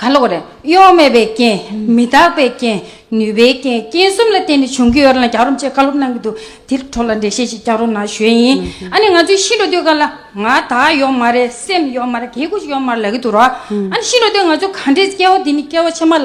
གང་ལོག་རེད། གཡོ་མེད་པའི་རྐྱེན། མི་རྟག་པའི་རྐྱེན། ནུས་པའི་རྐྱེན། རྐྱེན་གསུམ་ལ་བརྟེན་ནས་བྱུང་གི་ཡོད་རེད་ལ་རྒྱག་རོམ་ཅེས་བཀའ་སློབ་གནང་གི་འདུག་དེར་འཕྲོ་ལ་འགྲེལ་བཤད་ཅིག་རྒྱག་རོགས་གནང་ཞུས་ཡིན། ཨ་ནི་ང་ཚོས་ཤི་འགྲོ་དུས་སྐབས་ལ། ང་དག་ཡོག་མ་རེད་སེམས་ཡོག་མ་རེད་གེ་ཁུ་ཞིག་ཡོག་མ་རེད་ལབ་གི་འདུག་རོགས། ཨ་ནི་ཤི་འགྲོ་དུས་ང་ཚོས་ག་འདྲའི་སྐལ་བ་འདི་ནི་སྐལ་བ་ཆེན་མ་ལ།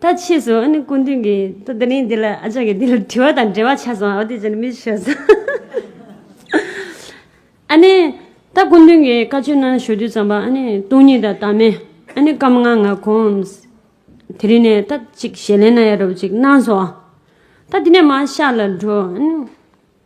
ད་ཕྱིས་སུ་ཨ་ནི་སྐུ་མདུན་གྱིས་ད་དེ་རིང་འདི་ལ་ཨ་ཅག་གིས་འདི་ལ་དྲི་བ་དང་འབྲེལ་བ་ཆགས་སོང་ཨོ་དེ་བྱས་ན་མི་ཞུ་ཟེར། ཨ་ནི་ད་སྐུ་མདུན་གྱིས་བཀའ་ཆོས་གནང་ཞུ་རྒྱུ་བརྩམས་པ་ཨ་ནི་སྟོང་ཉིད་དང་དང་མེད་ཨ་ནི་སྐབས་ང་ང་གོམས། དེ་རིང་ནས་ད་ཅིག་ཞལ་ལན་ན་ཡ་རུབ་ཅིག་གནང་སོང། ད་དེ་ནས་མ་ཤག་ལ་འགྲོ།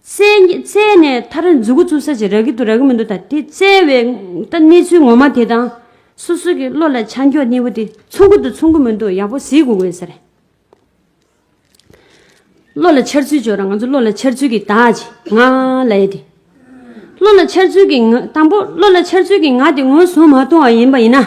བཙལ་ནས་མཐར་མཛུ་གུ་བཙུགས་ས་ཅི་རག་གི་འདུག་རག་གི་མི་འདུག་དང་དེ་བཙལ་བའི་ལྟ་གནས་ཚུལ་ངོ་མ་དེ་དང། སོ་སོ་གི་བློ་ལ་ཆ་འཇོག་གནས་བུ་དེ་མཚུངས་ཀུ་འདུག་མཚུངས་ཀུ་མི་འདུག་ཡག་པོ་གཟིགས་དགོས་དགོས་ས་རེད། བློ་ལ་འཆར་ཚུལ་འཇོག་རང་ང་ཚོ་བློ་ལ་འཆར་ཚུལ་གི་དག་ཅིག་ང་ལ་ཡོད་དེ། བློ་ལ་འཆར་ཚུལ་གི་ང་དང་པོ་བློ་ལ་འཆར་ཚུལ་གི་ང་དེ་ངོས་བཟུང་མ་གཏོང་བ་ཡིན་པ་ཡིན་ན།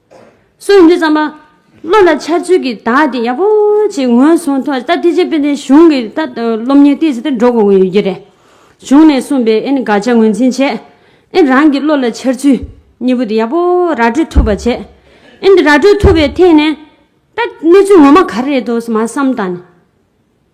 སུ་ཡིན་དུས་བསམ་པ། བློ་ལ་འཆར་ཚུལ་གྱི་དག་དེ་ཡག་པོ་ཞིག་ངོས་བཟུང་ཐོག་ད་ཐེག་ཆེན་དཔེ་ལྡན་གཞུང་གི་ད་སློབ་གཉེར་སྟེགས་ཟེར་དེ་འགྲོ་དགོས་ཀྱི་ཡོད་རྒྱུ་རེད། གཞུང་ནས་གསུངས་པའི་ཨེ་ནི་དགག་བྱ་ངོས་འཛིན་བྱེད། ཨེ་རང་གི་བློ་ལ་འཆར་ཚུལ་གཉིས་པོ་དེ་ཡག་པོ་ར་སྤྲོད་ཐུབ་པ་བྱེད། ཨེ་འདི་ར་སྤྲོད་ཐུབ་པའི་ཐད་ནས། ད་གནས་ཚུལ་ངོ་མ་ག་རེ་རེད་དོ་ཟེར་མ་བསམ་དང།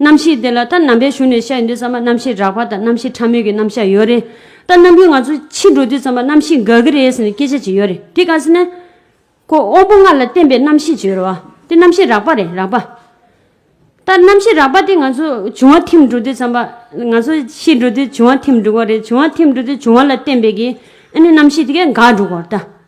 རྣམ་ཤེས་དེ་ལ་ད་ནམ་པའི་གཞུང་ནས་བཤད་ཡོད་འདུག་ཚང་མ་རྣམ་ཤེས་རགས་པ་དང་རྣམ་ཤེས་ཕྲ་མོས་ཀྱི་རྣམ་གཞག་ཡོད་རེད། ད་ནམ་རྒྱུན་ང་ཚོ་ཕྱིར་འགྲོ་དུས་ཚང་མ་རྣམ་ཤེས་འགག་གི་རེད་ཟེར་ནས་སྐད་ཆ་བྱེད་ཡོད་རེད་དེ་ག་ཟེར་ན། ཁོ་དབང་པོ་ལྔ་ལ་བརྟེན་པའི་རྣམ་ཤེས་བྱེད་རེད་བ། དེ་རྣམ་ཤེས་རགས་པ་རེད་རགས་པ། ད་རྣམ་ཤེས་རགས་པ་དེ་ང་ཚོ་འབྱུང་བ་ཐིམ་འགྲོ་དུས་ཚང་མ་ང་ཚོ་ཤི་འགྲོ་དུས་འབྱུང་བ་ཐིམ་འགྲོ་གི་རེད་འབྱུང་བ་ཐིམ་འགྲོ་དུས་འབྱུང་བ་ལ་བརྟེན་པའི་གི་ཨ་ནི་རྣམ་ཤེས་དེ་གས་འགག་འགྲོ་གི་རེད་ད།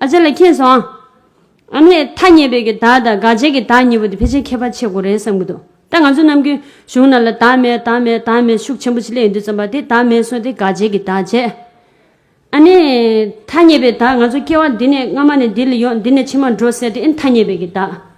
ཨ་ཅེ་ལ་མཁྱེན་སོང། ཨ་ནེ། ཐ་སྙད་པའི་གི་དག་དང་དགག་བྱའི་གི་དག་གཉིས་པོ་དེ་ཕལ་ཆེར་ཁྱད་པར་ཆེ་གོ་རེད་བསམ་གྱི་འདུག་ད་ང་ཚོ་ནམ་རྒྱུན་གཞུང་ནང་ལ་དག་མེད་དག་མེད་དག་མེད་ཤུགས་ཆེན་པོ་ཞིག་གླེང་འདུག་བསམ་པ་དེ་དག་མེད་སོང་སྟེ་དགག་བྱའི་གི་དག་བྱས། ཨ་ནེ། ཐ་སྙད་པའི་དག་ང་ཚོ་སྐྱེ་བ་འདི་ནས་སྔ་མ་ནས་འདི་ལ་ཡོང་འདི་ནས་ཕྱི་མར་འགྲོ་ཟེར་དེ་ཨེ་ཐ་སྙད་པའི་གི་དག།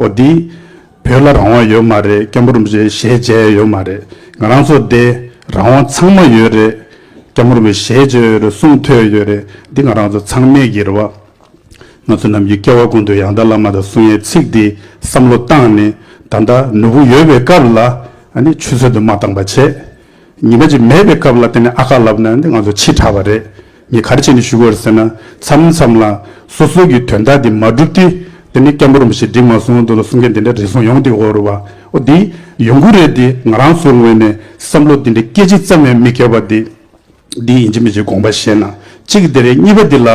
ཨོ་དི། བོད་ལ་རང་དབང་ཡོད་མ་རེད་སྐྱ་འབུར་མི་རེད་ཞེས་བརྗད་ཡ་ཡོད་མ་རེད་ང་རང་ཚོ་བདེ་རང་དབང་ཚང་མ་ཡོད་རེད་སྐྱ་འབུར་མི་ཞེས་བརྗོད་ཡོད་རེད་གསུངས་ཐོས་ཡོད་རེད་འདི་ང་རང་ཚོ་ཚང་མས་གིར་བ། ང་ཚོ་རྣམས་ཀྱི་སྐྱེ་བ་ཀུན་ཏུ་ཡང་དག་བླ་མ་དང་གསུང་ཡའི་ཚིག་འདི་བསམ་བློ་བཏང་ནས་ད་ལྟ་ནུ་བོ་ཡོད་པའི་སྐབས་ལ་ནི་ཆུ་ཚོད་དུ་མ་བཏང་པ་བྱས། ཉི་མ་གཅིག་མེད་པའི་སྐབས་ལ་དེ་ནས་ཨ་ཁ་ལབ་ན་ནི་ང་ཚོ་འཆི་དྲགས་པ་རེད། ངས་ག་རེ་བྱས་ནས་ཞུ་དགོས་རེད་ཟེར་ན། མཚམས་མཚམས་ལ། སོ་སོའི་གི་དོན་དག་དེ་མ་འགྲུབ་དུས། དེ་ནི་སྐད་འབོར་རིང་པོ་ཞིག་འགྲིག་མ་སོང་འདུག་ལ་གསུང་མཁན་དེ་འདྲ་རེ་ཟུང་ཡོང་དུས་འོ་རེད་བ། འོ་འདི། ཡོང་གི་རེད་འདི་ང་རང་ཚོའི་ངོས་ནས་བསམ་བློ་འདི་འདྲའི་སྐད་ཅིག་ཙམ་ཡང་མི་འཁེལ་བ་འདི། འདི་ཡིན་གྱི་མིན་གྱི་དགོངས་པ་བཞེས་ན་གཅིག་དེ་རེད་གཉིས་པ་འདི་ལ།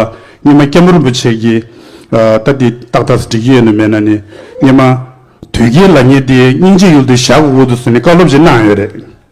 སྙེ་མ་སྐད་འབོར་རིན་པོ་ཆེ་གི། ད་འདི་ཏག་ཏག་འགྲིག་གི་ཡོད་ནི་མེད་ན་ནི། སྙེ་མ། དོལ་རྒྱལ་ལ་ངས་འདི་སྙིང་རྗེ་ཡུལ་དུ་བཞག་གོ་དགོས་འདུག་ཟེར་ནས་བཀའ་སློབ་ཅིག་གནང་ཡོད་རེད།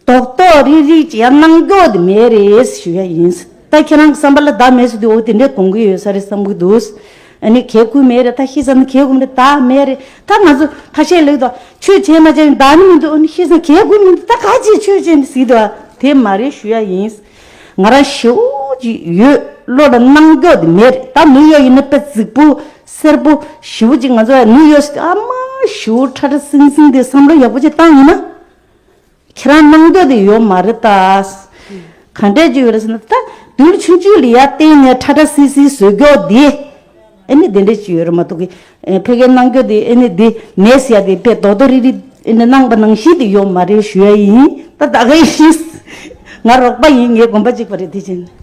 རྟོག་རྟོག་རིག་རིག་ཅེས་ཡང་གནང་འགྱོ་འདི་མེད་རེད་ཞུ་ཡ་ཡིན། ད་ཁྱེད་རང་གི་བསམ་པ་ལ་བདག་མེད་ཟེར་དུས་འོ་དེ་འདྲས་གོང་གི་ཡོད་ས་རེད་བསམ་གི་འདུག། ཨ་ནི་གལ་ཁུལ་མེད་རེད་ད་ཤེས་ས་ནི་གལ་ཁུལ་མེད་རེད་ད་མེད་རེད་ད་ང་ཚོ་ཐ་ཤལ་ལེགས་འདུག་ཆོས་བྱས་ན་བྱས་ཡིན་བདག་ནི་མི་འདུག་ཨོ་ནི་ཤེས་ས་ནི་གལ་ཁུལ་མི་འདུག་ད་ག་ཅིག་ཆོས་བྱས་ནི་ཟིག་འདུག་དེ་མ་རེད་ཞུ་ཡ་ཡིན། ང་རང་ཞེ་བོ་ཅིག་ཡོད་བློ་ལ་གནང་འགྱོ་འདི་མེད་རེད་ད་ནུ་ཡོག་ཡིན་ན་དཔེ་རྫིག་པོ་སེར་པོ་ཞེ་བོ་ཅིག་ང་ཚོ་ནུ་ཡོག་ཟེར་དུས་ཨ་མ་ཞེ་བོ་ཁྲ་ཁྲ་སིང་སིང་དེ་བསམ་བློ་ཡག་པོ་ཅིག་བཏང་ཡིན་ན། ཁྱེད་རང་སྣང་འདོད་དུ་ཡོད་མ་རེད་ད། གང་འདྲས་ཀྱི་ཡོད་རེད་ཟེར་ན། ད་དུས་ཆུང་ཆུང་ལི་ཡ་སྟེང་ནས་ཁྲ་ཁྲ་སིལ་སིལ་ཟོས་སྐྱོག་འདི། ཨེ་ནི་དེ་འདྲས་ཀྱི་ཡོད་རེད་མ་ཐུག་གི། ཕལ་ཁའི་སྣང་འདོད་དེ་ཨེ་ནི་འདི་མེད་ཟེར་ཡ་དེ་ཕལ་རྡོག་རྡོག་རིག་རིག་ཨེ་ནི་སྣང་བ་ནང་བཞིན་དུ་ཡོད་མ་རེད་ཞུ་ཡ་ཡིན། ད་ད་ག་ཡིན། ང་རོགས་པ་ཡིན་ངས་གོམས་པ་གཅིག་པ་རེད་དེ་བཞིན།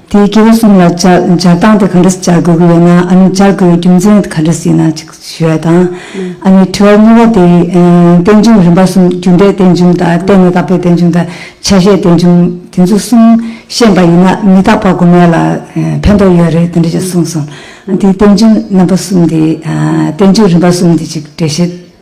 དེའི་དགེ་བའི་གསུང་ལ་སྦྱར་སྟངས་དེ་གང་འདྲ་སྦྱར་དགོས་ཀྱི་ཡོད་ན་ཨ་ནུས་སྦྱར་དགོས་པའི་རྒྱུ་མཚན་གང་འདྲ་ཞིག་ན་ཅིག་ཞུ་བ་དང། ཨ་ནུའི་དྲི་བ་གཉིས་པ་དེ་རྟེན་འབྱུང་རིམ་པ་གསུམ་རྒྱུ་འབྲས་རྟེན་འབྱུང་དང་བརྟེན་ནས་དག་པའི་རྟེན་འབྱུང་དང་ཆ་ཤས་རྟེན་འབྱུང་དེ་ཚོ་གསུམ་ཤེས་པ་ཡིན་ན་མི་རྟག་པ་དགོས་མེད་ལ་ཕན་ཐོགས་ཡོད་རེད་དེ་འདྲ་ཅིག་གསུངས་སོང། དེའི་རྟེན་འབྱུང་རྣམ་པ་གསུམ་དེ་རྟེན་འབྱུང་རིམ་པ་གསུམ་དེ་ཅིག་འགྲེལ་བཤད།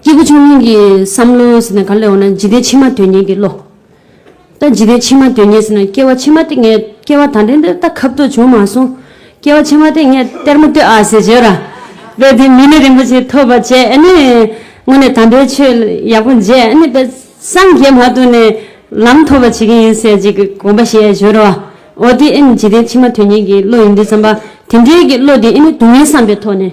སྐྱེས་བུ་ཆུང་ངུ་ཡི་བསམ་བློ་ཟེར་ན་ག་ལས་འོང་ན་འཇིག་རྟེན་ཕྱི་མ་དོན་གཉེར་གྱི་བློ། ད་འཇིག་རྟེན་ཕྱི་མ་དོན་གཉེར་ཟེར་ན་སྐྱེ་བ་ཕྱི་མ་སྟེ་ངས་སྐྱེ་བ་ད་ལྟའི་འདིར་ད་ཁབ་ཏུ་བྱུང་མ་སོང། སྐྱེ་བ་ཕྱི་མ་སྟེ་ངས་གཏེར་མ་ལྟོས་ཨ་ཟེར་བྱོས་ར། དཔེར་དེ་མི་ནི་རིན་པོ་ཆེ་ཐོབ་པ་བྱས་ཨེ་ནི། དངོས་ནས་དམ་པའི་ཆོས་ཡག་པོ་མཇལ་ཨེ་ནི་དཔེར་སངས་རྒྱས་མ་ཐོབ་ནས་ལམ་ཐོབ་པ་བྱེད་ཀྱི་ཡིན་ཟེར་གྱི་དགོངས་པ་བཞེས་བྱོས་ར། འོ་དེ་ཨེ་ནི་འཇིག་རྟེན་ཕྱི་མ་དོན་གཉེར་གྱི་བློ་ཡིན་དུས་བསམ་པ་དེ་འདྲའི་གི་བློ་དེ་ཨེ་ནི་སྡུག་བསྔལ་བསམ་པའི་ཐོག་ནས།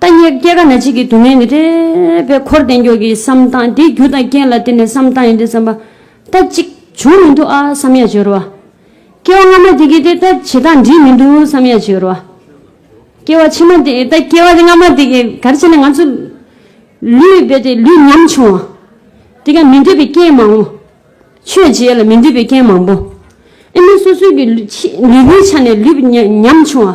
ལྟ་ཉེར་སྐྱེས་ག་ན་གཅིག་གིས་དུག་ལྔའི་ནི་རེ་བའི་འཁོར་བསྟན་མགྱོགས་ཀྱི་བསམ་སྟངས་དེའི་རྒྱུ་དང་རྐྱེན་ལ་བརྟེན་ནས་བསམ་སྟངས་ཡིན་ཏེ་བསམ་པ་ལྟ་གཅིག་བྱུང་མི་འདུག་ཨ་བསམ་ཡ་བྱོལ་བ། སྐྱེ་བ་སྔ་མ་དེ་གིས་དེ་ལྟ་བྱེད་སྟངས་འགྲིག་མི་འདུག་བསམ་ཡ་བྱོལ་བ། སྐྱེ་བ་ཕྱི་མ་དེ་ལྟ་སྐྱེ་བ་སྔ་མ་དེ་གིས་གར་བྱས་ན་ང་ཚོ་ལུས་རྦད་དེ་ལུས་ཉམ་ཆུང་བ། དེ་ག་མི་འདོད་པའི་རྐྱེན་མང་བོ། ཆོས་བྱེད་ལ་མི་འདོད་པའི་རྐྱེན་མང་བོ། ཨེ་མི་སོ་སོའི་གི་ལུས་པོའི་ཆ་ནས་ལུས་ཉམ་ཆུང་བ།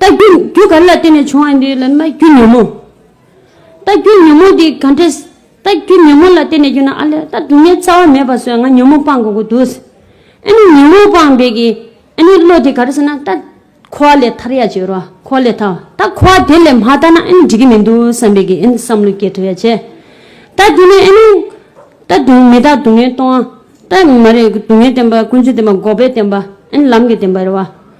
རྟགས་རྒྱུན་རྒྱུ་ག་རེ་ལ་བརྟེན་ནས་བྱུང་བ་ཡིན་དུས་ལན་མ་རྒྱུ་ཉོན་མོངས། རྟགས་རྒྱུན་ཉོན་མོངས་དེ་ག་འདྲས། རྟགས་རྒྱུན་ཉོན་མོངས་ལ་བརྟེན་ནས་རྒྱུ་ན་ཨ་ལས་ད་སྡུག་བསྔལ་རྩ་བ་མེད་པ་བཟོས་ང་ཉོན་མོངས་སྤངས་དགོས་ཀྱི་འདུག། ཨ་ནི་ཉོན་མོངས་སྤངས་བས་ཀྱི་ཨ་ནི་བློ་དེ་ག་རེ་ཟེར་ན་ད་འཁོར་བ་ལས་ཐར་ཡ་བྱེད་རོགས་འཁོར་བ་ལས་ཐར་བ་ད་འཁོར་བ་དེ་ལས་མ་ཐར་ན་ཨ་ནི་འགྲིག་གི་མི་འདུག་བསམ་པས་ཀྱི་ཨ་ནི་བསམ་བློ་སྐྱེ་ཐུབ་ཡ་བྱས། ད་དེ་ནས་ཨ་ནི། ད་སྡུག་མི་ད་སྡུག་བསྔལ་གཏོང། ད་མ་རེད་སྡུག་བསྔལ་བསྟན་པ་ཀུན་ཚོད་བསྟན་པ་འགོག་པའི་བསྟན་པ་ཨ་ནི་ལམ་གྱི་བསྟན་པ་རེད་བ།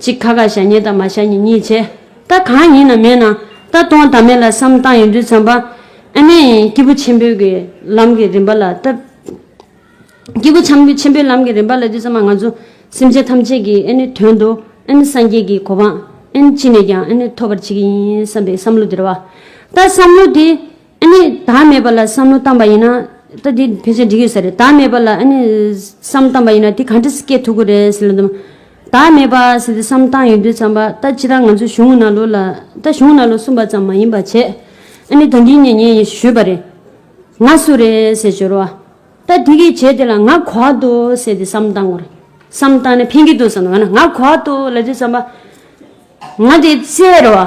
གཅིག་ཁ་ཁ་ཞྭ་སྙེད་དང་མ་ཞྭ་གཉིས་གཉིས་བྱེད། རྟ་གང་ཡིན་ན་མེད་ན་རྟ་སྟོང་དང་མེད་ལ་བསམ་སྟངས་ཡོད་དུས་བརྩམས་པ། ཨ་ནེ། སྐྱེས་བུ་ཆེན་པོའི་གི་ལམ་གྱི་རིམ་པ་ལ་ལྟ། སྐྱེས་བུ་ཆམ་ཆེན་པོའི་ལམ་གྱི་རིམ་པ་ལ་དུས་བརྩམས་པ་ང་ཚོ་སེམས་ཅན་ཐམས་ཅད་ཀྱིས་ཨ་ནེ་དོན་དུ་ཨ་ནེ་སངས་རྒྱས་ཀྱི་གོ་འཕང་ཨ་ནེ་ཅི་ནས་ཀྱང་ཨ་ནེ་ཐོབ་པར་བྱེད་ཀྱི་ཡིན་བསམ་པའི་བསམ་བློ་དེར་བ། ལྟ་བསམ་བློ་དེ། ཨ་ནི་ད་མེད་པ་ལ་བསམ་བློ་བཏང་པ་ཡིན་ན། ད་དེ་ཕལ་ཆེར་འགྲིག་ཡོད་ས་རེད་ད་མེད་པ་ལ་ཨ་ནི་བསམ་བཏང་པ་ཡིན་ན་དེ་ག་འདྲ་སྐྱེ་ཐུབ་ཀི་རེད་ཟེར་ལ་འདུག་མ་ད་མེད་པ་ཟེར་དེ་བསམ་བཏང་ཡོད་དུས་བརྩམས་པ་ད་ཅི་རང་ང་ཚོ་གཞུང་ན་ལོ་ལ་ད་གཞུང་ན་ལོ་གསུམ་པ་ཙམ་མ་ཡིན་པ་བྱས་ཨ་ནི་ད་འདི་ནས་ངས་ཡིན་ཞུས་པ་རེད། ང་སུ་རེད་ཟེར་བྱོས་རོགས་ཨ་ད་དེ་གི་བྱས་དེ་ལ་ང་གོ་ཨ་དོ་ཟེར་དེ་བསམ་བཏང་ངོ་རེད་བསམ་བཏང་ནས་ཕན་གི་འདུག་བསམ་ན་ང་གོ་ཨ་དོ་ལ་དེ་བསམ་པ་ང་དེ་བཙལ་རོགས་ཨ་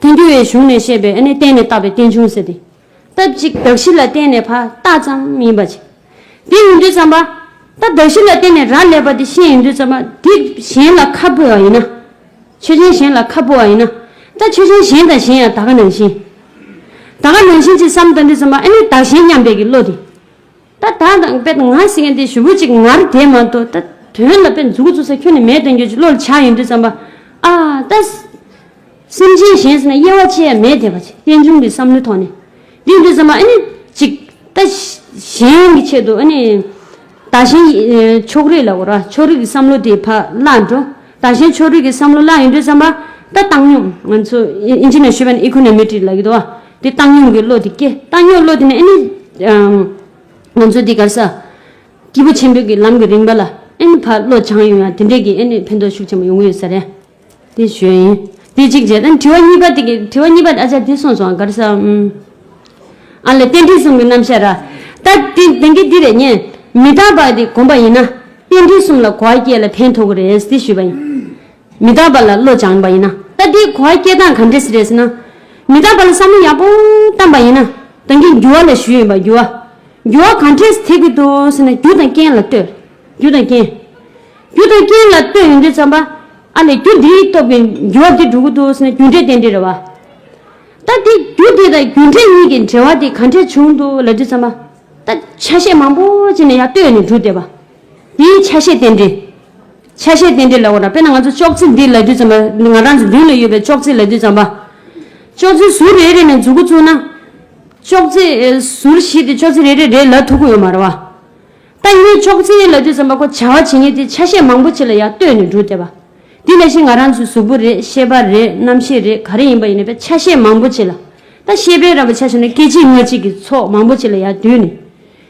ཐལ་འགྱུར་བའི་གཞུང་ནས་བཤད་པའི་ཨ་ནི་བརྟེན་ནས་བཏགས་པའི་རྟེན་འབྱུང་ཟེར་ཏེ། རྟགས་གཅིག་གདགས་གཞི་ལ་བརྟེན་ནས་ཕ་རྟགས་ཙམ་ཡིན་པ་ཅིག། དེ་ཡིན་དུས་ཙམ་པ། རྟགས་གདགས་གཞི་ལ་བརྟེན་ནས་རག་ལས་པ་དེ་ཤེས་ཡིན་དུས་ཙམ་པ། དེ་གཞན་ལ་ཁ་འཕོ་བ་ཡིན་ན། ཆོས་ཅན་གཞན་ལ་ཁ་འཕོ་བ་ཡིན་ན། རྟགས་ཆོས་ཅན་གཞན་དང་གཞན་ཡང་ད་ག་ནང་བཞིན། ད་ག་ནང་བཞིན་ཅེས་སམ་ལྟ་འདོད་ཙམ་པ་ཨ་ནི་བདག་གཞན་མཉམ་འབད་ཀྱི་བློ་དེ། ད་ད་དང་དཔེ་ང་ཟེར་མཁན་དེ་ཞུ་བོད་ཅིག་ངར་དེ་མ་གཏོགས་ད་དོན་ལ་དཔེ་མཛུ་གུ་བཙུགས་ས་ཁྱོན་ནས་མེད་དོན་གྱོད་ཀྱི་བློ་ལ་ཆགས་ཡོད་འདུག་བསམ་པ་ཨ་ད། སེམས་ཅན་གཞན་ཟེར་ན་དབྱེ་བ་ཅི་ཡང་མེད་དེ་བ་ཅིག་རྟེན་འབྱུང་གི་བསམ་བློའི་ཐོག་ནས་འདི་འདུག་བསམ་པ་ཨ་ནི་ཅིག་ད་གཞན་གྱི་ཆེད་དུ་ཨ་ནི་ད་གཞན་ཕྱོགས་རིས་ལ་གོ་ར་ཕྱོགས་རིས་ཀྱི་བསམ་བློ་དེ་ཕ་བརླག་འགྲོ་ད་གཞན་ཕྱོགས་རིས་ཀྱི་བསམ་བློ་བརླག་ཡོད་འདུག་བསམ་པ་ད་བཏང་སྙོམས་ང་ཚོ་ཨིན་ཇི་ནས་ཞུས་པ་ནི་ཨི་ཁོ་ནའི་མི་ཀྲིག་ལ་གི་དོ་བ་འདི་བཏང་སྙོམས་ཀྱི་བློ་དེ་སྐྱེ། བཏང་སྙོམས་བློ་དེ་ནི་ཨེ་ནི། ང་ཚོ་འདི་གར་ས། སྐྱེས་བུ་ཆེན་པོའི་ལམ་གྱི་རིམ་པ་ལ་ཨེ་ནི་བར་བློ་བྱང་ཡོད་ཡང་དེ་འདྲའི་གིས་ཨེ་ནི་ཕན་ཐོགས་ཤུགས་ཆེན་པོ་ཡོང་གི་ཡོད་ས་རེད། དེ་ཞོལ་ཡིན། དེ་གཅིག་བྱས། ཨ་ནི་དྲི་བ་གཉིས་པ་དེ། དྲི་བ་གཉིས་པ་ཨ་ཅག་དེ་སོང་སོང་གར་ས། ཨ་ལས་རྟེན་འབྲེལ་གསུམ་གྱི་རྣམ་བཤད་ར། ད་དེ་དེང་གི་འདི་རེད་ཉན། མི་རྟག་པ་དེ་གོམས་པ་ཡིན་ན། རྟེན་འབྲེལ་གསུམ་ལ་གོ་བ་སྐྱེ་ལ་ཕན་ཐོགས་གི་རེད་དེ་ཞུས་པ་ཡིན། མི་རྟག་པ་ལ་བློ་སྦྱང་བ་ཡིན་ན། ད་འདིའི་གོ་བ་སྐྱེལ་སྟངས་ག་འདྲས་རེད་ཟེར་ན། མི་རྟག་པ་ལ་བསམ་བློ་ཡག་པོ་བཏང་བ་ཡིན་ན། ད་འདིའི་འགྱུར་བ་ལ་ཞུས་ཡོད་པ་འགྱུར་བ། འགྱུར་བ་ག་འདྲས་ཐེབས་ཀྱི་འདུག་ཟེར་ན་རྒྱུ་དང་རྐྱེན་ལ་ལྟོས། རྒྱུ་དང་རྐྱེན། རྒྱུ་དང་རྐྱེན་ལ་ལྟོས་ཡོང་དུས་བསམ་པ། ཨ་ལས་རྒྱུ་འདིའི་སྟོབས་ཀྱིས་འགྱུར་བ་འདི་འགྲོ་གི་འདུག་ཟེར་ན་རྒྱུ་འབྲས་དེ་འདྲས་རེད་བ། ད་འདིའི་རྒྱུ་དེ་དང་རྒྱུ་འབྲས་གཉིས་ཀྱི་འབྲེལ་བ་དེ་ག་འདྲས་བྱུང་འདུག་ལབ་དུས་བསམ་པ། ད་ཆ་ཤས་མང་པོ་ཅིག་ནས་ཡར་ལྟོས་ནས་འགྲོ་བསྡད་པ། དེ་ཡི་ཆ་ཤས་རྟེན་འབྲེལ། ཆ་ཤས་རྟེན་འབྲེལ་ལ་འོ་ན་དཔེར་ན་ང་ཚོ་ཅོག་ཙེ་འདི་ལ་དུས་ཙམ་པ། ང་རང་ཚོ་མདུན་ལ་ཡོད་པའི་ཅོག་ཙེ་ལ་དུས་ཙམ་པ། ཅོག་ཙེ་ཟུར་རེ་རེ་ནས་འཛུགས་འགོ་བཙུགས་ན། ཅོག་ཙེ་ཟུར་བཞི་དེ་ཅོག་ཙེ་རེ་རེ་རེ་ལ་ཐུག་གི་ཡོད་མ་རེད་བ། ད་ངས་ཅོག་ཙེ་ལ་དུས་ཙམ་པ་ཁོ་བྱ་བ་བྱེད་ངེས་དེ་ཆ་ཤས་མང་པོ་ཆེ་ལ་ཡང་ལྟོས་ནས་འགྲོ་བསྡད་པ། དེ་ལས་གཞན་ང་རང་ཚོའི་གཟུགས་པོ་རེད་ཤེས་པ་རེད་རྣམ་ཤེས་རེད་ག་རེ་ཡིན་པ་ཡིན་ན་པའི་ཆ་ཤས་མང་པོ་ཆེ་ལ། ད་ཤེས་པའི་ར་བའི་ཆ་ཤས་ནི་སྐད་ཅིག་ངག་གཅིག་གི་ཚོགས་མང་པོ་ཆེ་ལ་ཡང་བསྡུས་ནས།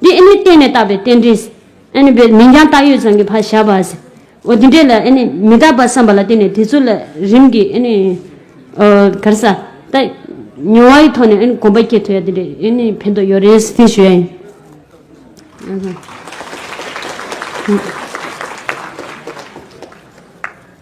འདི་ཨེ་ནི་གཏན་ནས་རྟག་པའི་རྟེན་འབྲེལ། ཨེ་ནི་པའི་མིང་ཀྱང་བཏགས་ཡོད་ཙམ་གྱི་བར་བཞག་པ། འོ་དེ་འདྲའི་ལ་ཨེ་ནི་མི་རྟག་པར་བསམ་པ་ལ་བརྟེན་ནས་དེ་ཚོ་ལ་རིམ་གྱིས་ཨེ་ནི། གར་ས། ད། མྱོང་བ་ཡི་ཐོག་ནས་ཨེ་ནི་གོམས་པ་སྐྱེ་ཐུབ་ཡ་དེ་འདྲའི་ཨེ་ནི་ཕན་ཐོགས་ཡོད་རེད་ཟེར་ཞུ་ཡ་ཡིན།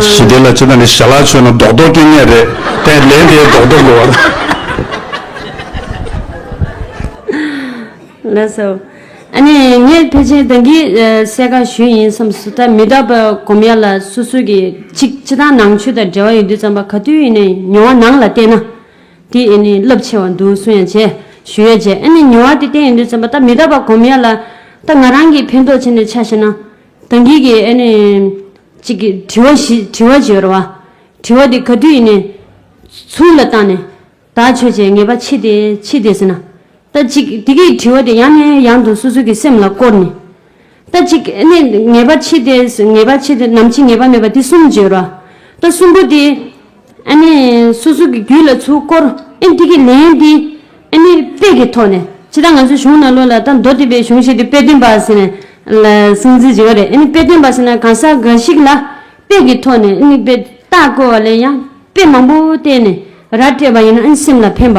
ཞི་བདེ་ལ་སྤྱི་དང་ནི་ཞལ་ལག་མཆོད་ན་རྡོག་རྡོག་སྐྱོན་ངན་རེད་དེ་ལན་དེའི་རྡོག་རྡོག་དགོས་བ་དང། ལགས་སོ། ཨ་ནི་ངས་ཕལ་ཆེར་བདག་གིས་གསལ་ཁ་ཞུས་ཡིན་བསམས་སོ་ད་མི་དག་པ་གོམས་ཡ་ལ་སོ་སོས་ཀྱི་ཅིག་སྤྱི་དང་ནང་ཆོས་དང་འབྲེལ་བ་ཡོད་དུས་ཙམ་པ་ག་དུས་ཡིན་ནས་མྱོང་བ་ནང་ལ་བལྟས་ན། དེ་ཨེ་ནི་རླབས་ཆེ་བར་འདུག་གསུང་ཡང་བྱས། ཞུ་ཡང་བྱས་ཨེ་ནི་ཉེ་བར་དེ་བསྟན་ཡོད་འདུག་བརྩམས་པ་ད་མི་ད་པ་གོམས་ཡ་ལ། ད་ང་རང་གིས་ཕན་ཐོགས་བྱས་ནས་ཆ་ཤེས་ན། ད་འགིག་གི་ཨེ་ནི། ཅིག། དྲི་བ་བཞི་དྲི་བ་བྱེད་རོགས། དྲི་བ་དེ་ག་དུས་ཡིན་ནས། ཚུར་ལ་བཏང་ནས། དག་ཆོས་བྱས་ངེས་པ་མཆིས་ཏེ་མཆིས་ཏེ་ཟེར་ན། ལྟ་ཅིག། དེ་གིས་དྲི་བ་དེ་ཡང་ནས་ཡང་དུ་སོ་སོ་གྱི་སེམས་ལ་བསྐོར་ནས། ལྟ་ཅིག། གནས་ངེས་པར་འཆི་སྟེ། ངེས་པར་འཆི་སྟེ་ནམ་འཆི་ངེས་པ་མེད་པ་དེ་གསུམ་བརྗོད་རོ། ལྟ་གསུམ་པོ་དེ། ཨ་ནི། སོ་སོ་གྱི་རྒྱུད་ལ་ཚུར་བསྐོར། ཨེ་དེ་གི་ལན་དེ། ཨ་ནི། དཔེ་གི་ཐོག་ནས། ཕྱི་དང་ང་ཚོའི་གཞུང་ནང་ལོ་ལ་ལྟ་མདོ་སྡེ་པའི་གཞུང་ཞིག་ཏུ་དཔེ་སྟོན་པ་ཟེར་ནས། ལ། གསང་ཚིག་བྱེད་པ་རེད་ཨེ་ནི་དཔེ་སྟོན་པ་ཟེར་ན་གང་ཟག་འགའ་ཞིག་ལ། དཔེ་གི་ཐོག་ནས་ཨེ་ནི་དཔེ། རྟགས་བཀོལ་བ་ལས་ཡང་དཔེ་མང་པོ་བལྟས་ནས་ར་སྤྲད་པ་ཡིན་ན་ཨེ་ནི་སེམས་ལ་ཕན་པ།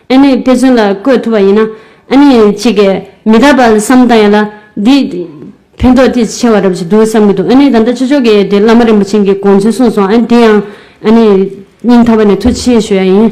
ཨ་ནེ་དཔེ་མཚོན་ལ་བཀོད་ཐུབ་པ་ཡིན་ན་ཨ་ནེ་གཅིག་གིས་མི་རྟག་པ་བསམ་བཏང་ཡོད་ལ། འདིས་ཕན་ཐོགས་ཐེ་ཆེ་བ་རབ་ཅིག་འདུག་བསམ་གྱི་འདུག་ཨ་ནེ་ད་ལྟ་ཆོས་ཕྱོགས་ཀྱི་དེ་བླ་མ་རིན་པོ་ཆེན་གྱི་དགོངས་ཚུལ་གསུངས་སོང་ཨ་དེ་ཡང་ཨ་ནེ་སྙིང་ཐག་པ་ནས་ཐུགས་ཆེ་ཞུ་ཡ་ཡིན།